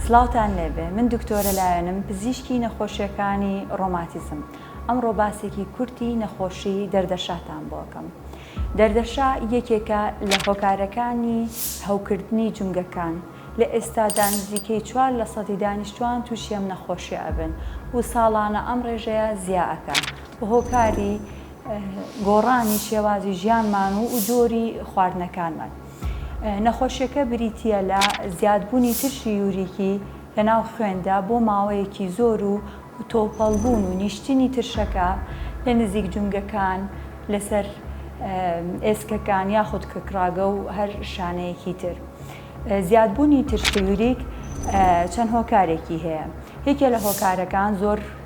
سڵاوتان لێبێ من دکتۆرە لایەنم پزیشکی نەخۆشیەکانی ڕۆماتیزم ئەمڕۆ باسێکی کورتی نەخۆشی دەردەشاتان بۆکەم دەردەشا یەکێکە لە هۆکارەکانی هەوکردنی جومگەکان لە ئێستادا نزیکەی چوار لە سەدی دانیشتوان توشی ئەم نەخۆشیە ئەبن و ساڵانە ئەم ڕێژەیە زیا ئەکا و هۆکاری گۆڕانی شێوازی ژیانمان و و جۆری خواردنەکانمان. نەخۆشیەکە بریتییە لە زیادبوونی ترشی یوریکی لەناو خوێندا بۆ ماوەیەکی زۆر و تۆپەڵبوون و نیشتنی ترشەکە لە نزیک جومگەکان، لەسەر ئێسکەکان یاخود کەکڕاگە و هەر شانەیەکی تر. زیادبوونی ترشی یوریک چەند هۆکارێکی هەیە، یەکێ لە هۆکارەکان زۆر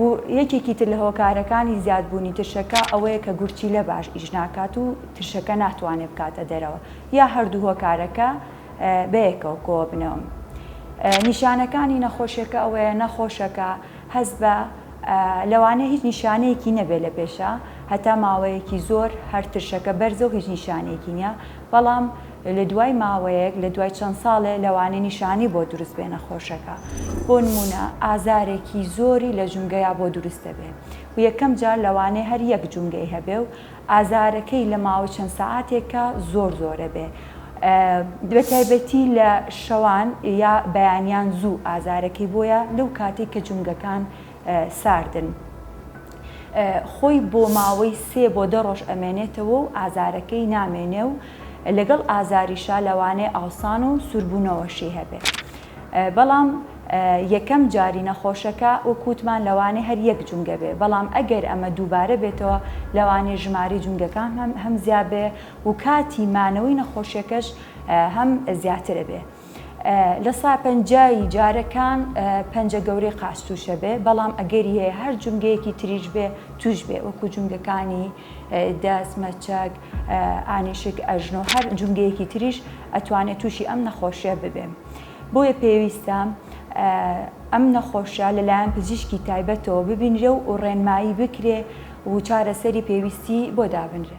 و یەکێکی تر لە هۆکارەکانی زیادبوونی ترشەکە ئەوەیە کە گورچیلە باش ئیش ناکات و ترشەکە ناتوانێت بکاتە دەرەوە یا هەردوو هۆکارەکە بەیەکەوە کۆببنەوە. نیشانەکانی نەخۆشیەکە ئەوەیە نەخۆشەکە هەست بە لەوانەیە هیچ نیشانەیەکی نەبێت لە پێشا هەتا ماوەیەکی زۆر هەر ترشەکە بەرزە و هیچ نیشانەیەکی نیە بەڵام لە دوای ماوەیەک لە دوای چەند ساڵێ لەوانەیە نیشانەی بۆ دروست بێ نەخۆشەکە بۆ نموونە ئازارێکی زۆری لە جومگەیا بۆ دروست دەبێ و یەکەم جار لەوانەیە هەر یەک جومگەی هەبێ و ئازارەکەی لە ماوەی چەند سەعاتێکا زۆر زۆرە بێ بە تایبەتی لە شەوان یا بەیانیان زوو ئازارەکەی بۆیە لەو کاتەی کە جومگەکان ساردن خۆی بۆ ماوەی سێ بۆ دە ڕۆژ ئەمێنێتەوە و ئازارەکەی نامێنێ و لەگەڵ ئازاریشا لەوانەیە ئاوسان و سوربوونەوەشی هەبێ بەڵام یەکەم جاری نەخۆشەکە وەکووتمان لەوانێ هەر یەک جونگە بێ بەڵام ئەگەر ئەمە دووبارە بێتەوە لەوانێ ژماری جونگەکان هەم هەم زیابێ و کاتی مانەوەی نەخۆشیەکەش هەم زیاترە بێ. لە سا پەنجا ی جارەکان پەنجە گەورەی قاچ تووشە بێ، بەڵام ئەگەری هەیە هەر جومگەیەکی تریش بێ تووش بێ وەکو جومگەکانی، دەست، مەچەک، ئانیشک، ئەژنۆ هەر جومگەیەکی تریش ئەتوانێ تووشی ئەم نەخۆشیە ببێ بۆیە پێویستە ئەم نەخۆشە لەلایەن پزیشکی تایبەتەوە ببینرێ و ڕێنمایی بکرێ و چارەسەری پێویستی بۆ دابنرێ.